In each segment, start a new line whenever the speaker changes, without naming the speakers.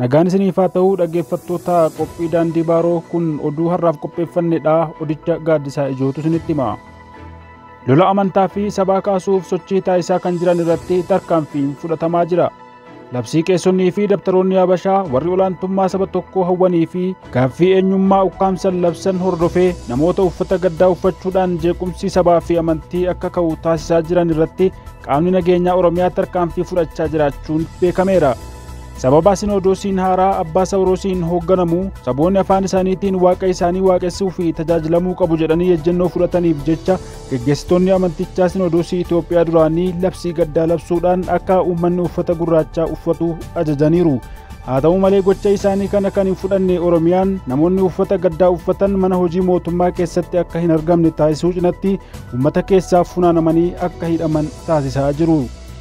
Nagaan isiniif haa ta'uu dhaggeeffattoota qophii daandii baaroo kun oduu har'aaf qopheeffannedha odicha gaaddisaa ijootu isinitti hima. Lola amantaa fi sabaa kaasuuf sochii taasisaa kan jiran irratti tarkaanfiin fudhatamaa jira. Labsii qeessonnii fi dabtaroonni Habashaa warri olaantummaa saba tokkoo hawwanii fi Gaaffii eenyummaa ukkaamsan labsan hordofee namoota uffata gaddaa uffachuudhaan jeequmsi sabaa fi amantii akka ka'u taasisaa jiran irratti qaamni nageenyaa Oromiyaa tarkaanfii fudhachaa jiraachuun beekameera. Sababa Sinoodoosiin haaraa Abbaa Sawuroosiin hoogganamu saboonni afaan isaaniitiin waaqa isaanii waaqessuu fi tajaajilamuu qabu jedhanii ejjennoo fudhataniif jecha geggeessitoonni amantichaa Sinoodoosii Itoophiyaa duraanii labsii gaddaa labsuudhaan akka uummanni uffata gurraachaa uffatu ajajaniiru. Haa ta'u malee gocha isaanii kana kan hin fudhanne Oromiyaan namoonni uffata gaddaa uffatan mana hojii mootummaa keessatti akka hin argamne taasisuu cinatti uummata keessaaf funaanamanii akka hidhaman taasisaa jiru.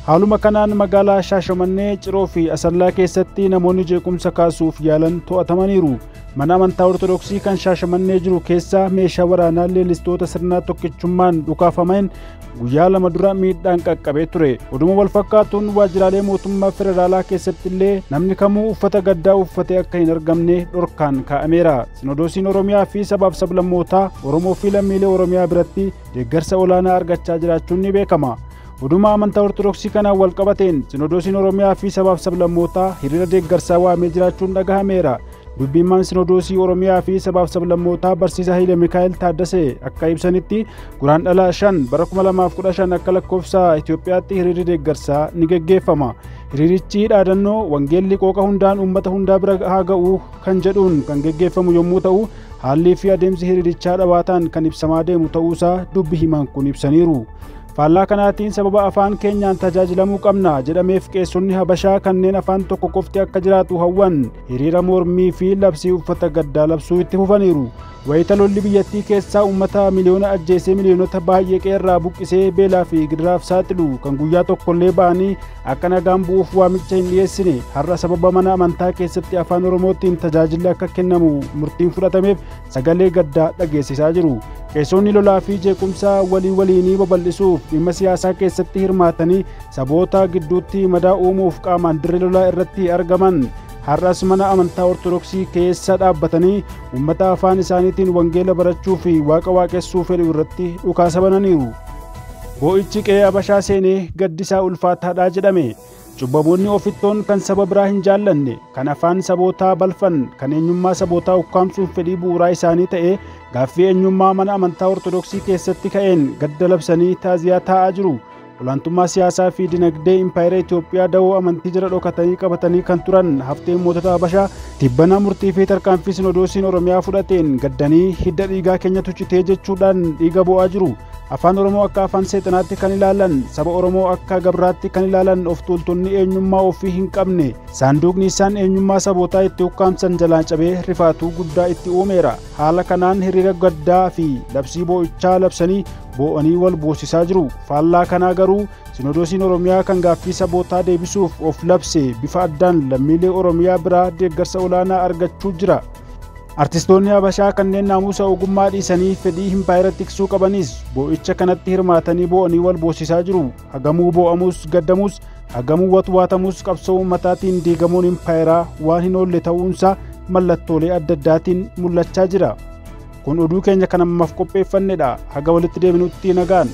Haaluma kanaan magaalaa Shaashamannee, Ciroo fi Asallaa keessatti namoonni jeequmsa kaasuuf yaalan to'atamaniiru. Mana amantaa Ortodoksii kan Shaashamannee jiru keessaa meeshaa waraanaa leellistoota sirnaa tokkichummaan dhukaafameen guyyaa lama dura miidhaan qaqqabee ture oduma wal fakkaatuun waajjiraalee mootummaa federaalaa keessatti illee namni kamuu uffata gaddaa uffatee akka hin argamne dhorkaan kaa'ameera sinodoosiin oromiyaa fi sabaaf sablammootaa oromoo fi lammiilee oromiyaa biratti deeggarsa olaanaa argachaa jiraachuun ni beekama oduma amantaa ortodoksii kanaan wal qabateen sinodoosiin oromiyaa fi sabaaf sablammootaa hiriira deeggarsaa waamee jiraachuun dhagahameera Dubbiimmaan Sinodoosii Oromiyaa fi Sabaaf Sablammootaa Barsiisa Hayile Mikaa'el Taaddasee akka ibsanitti guraan dhala 5 bara 2015 akka lakkoofsa Itoophiyaatti hiriirri deeggarsaa ni geggeeffama. Hiriirichi dhaadannoo wangeelli qooqa hundaan uummata hundaa bira haa ga'u kan jedhuun kan geggeeffamu yommuu ta'u haallii fi adeemsi hiriirichaa dhawaataan kan ibsamaa deemu ta'uusaa dubbi himaan kun ibsaniiru. Faallaa kanaatiin sababa afaan keenyaan tajaajilamuu qabna jedhameef qeessonni Habashaa kanneen afaan tokko qofti akka jiraatu hawwan hiriira mormii fi labsii uffata gaddaa labsuu itti fufaniiru. Wayita lolli biyyattii keessaa uummata miliyoona ajjeesee miliyoonota baay'ee qeerraa buqqisee beelaa fi gidiraaf saaxilu kan guyyaa tokkollee ba'anii akka nagaan bu'uuf waamicha hin dhiyeessine har'a sababa mana amantaa keessatti afaan Oromootiin tajaajilli akka kennamu murtiin fudhatameef sagalee gaddaa dhageessisaa jiru. Qeesonni lolaa fi jeequmsaa walii waliinii babal'isuuf dhimma siyaasaa keessatti hirmaatanii saboota gidduutti madaa uumuuf qaamaan dirree lolaa irratti argaman har'as mana amantaa ortodoksii keessa dhaabbatanii uummata afaan isaaniitiin wangeela barachuu fi waaqa waaqessuu fedhu irratti dhukaasa bananiiru. Boo'ichi qe'ee Abashaa seenee gaddisaa ulfaataadhaa jedhame. Cubbamoonni ofittoon kan saba biraa hin jaallanne, kan afaan sabootaa balfan, kan eenyummaa sabootaa ukkaamsuuf fedhii bu'uuraa isaanii ta'ee gaaffii eenyummaa mana amantaa Ortodoksii keessatti ka'een gadda labsanii taaziyaa taa'aa jiru. Olaantummaa siyaasaa fi dinagdee impaayera Itoophiyaa dawoo amantii jala dhokatanii qabatanii kan turan hafteen mootota Habashaa tibbana murtii fi tarkaanfii sinodoosiin Oromiyaa fudhateen gaddanii hidda dhiigaa keenyatu citee jechuudhaan dhiiga bo'aa jiru. Afaan Oromoo akka afaan seexanaatti kan ilaalan, saba Oromoo akka gabraatti kan ilaalan of tuultonni eenyummaa ofii hin qabne, saanduuqni isaan eenyummaa sabootaa itti ukkaamsan jalaa cabee rifaatuu guddaa itti uumeera. Haala kanaan hiriira gaddaa fi labsii boo'ichaa labsanii boo'anii wal boosisaa jiru. Faallaa kanaa garuu Sinodoosiin Oromiyaa kan gaaffii sabootaa deebisuuf of labse bifa addaan lammiilee Oromiyaa biraa deeggarsa olaanaa argachuu jira. Artistoonni Habashaa kanneen naamusa ogummaa dhiisanii fedhii himpaayera tiksuu qabanis boo'icha kanatti hirmaatanii boo'anii wal boosisaa jiru. Hagamuu boo'amus gaddamus, hagamuu watwaatamus qabsoo uummataatiin diigamuun impaayeraa waan hin oolle ta'uunsaa mallattoolee adda addaatiin mul'achaa jira. Kun oduu keenya kan ammaaf qopheeffannedha. Haga walitti deebinutti nagaan.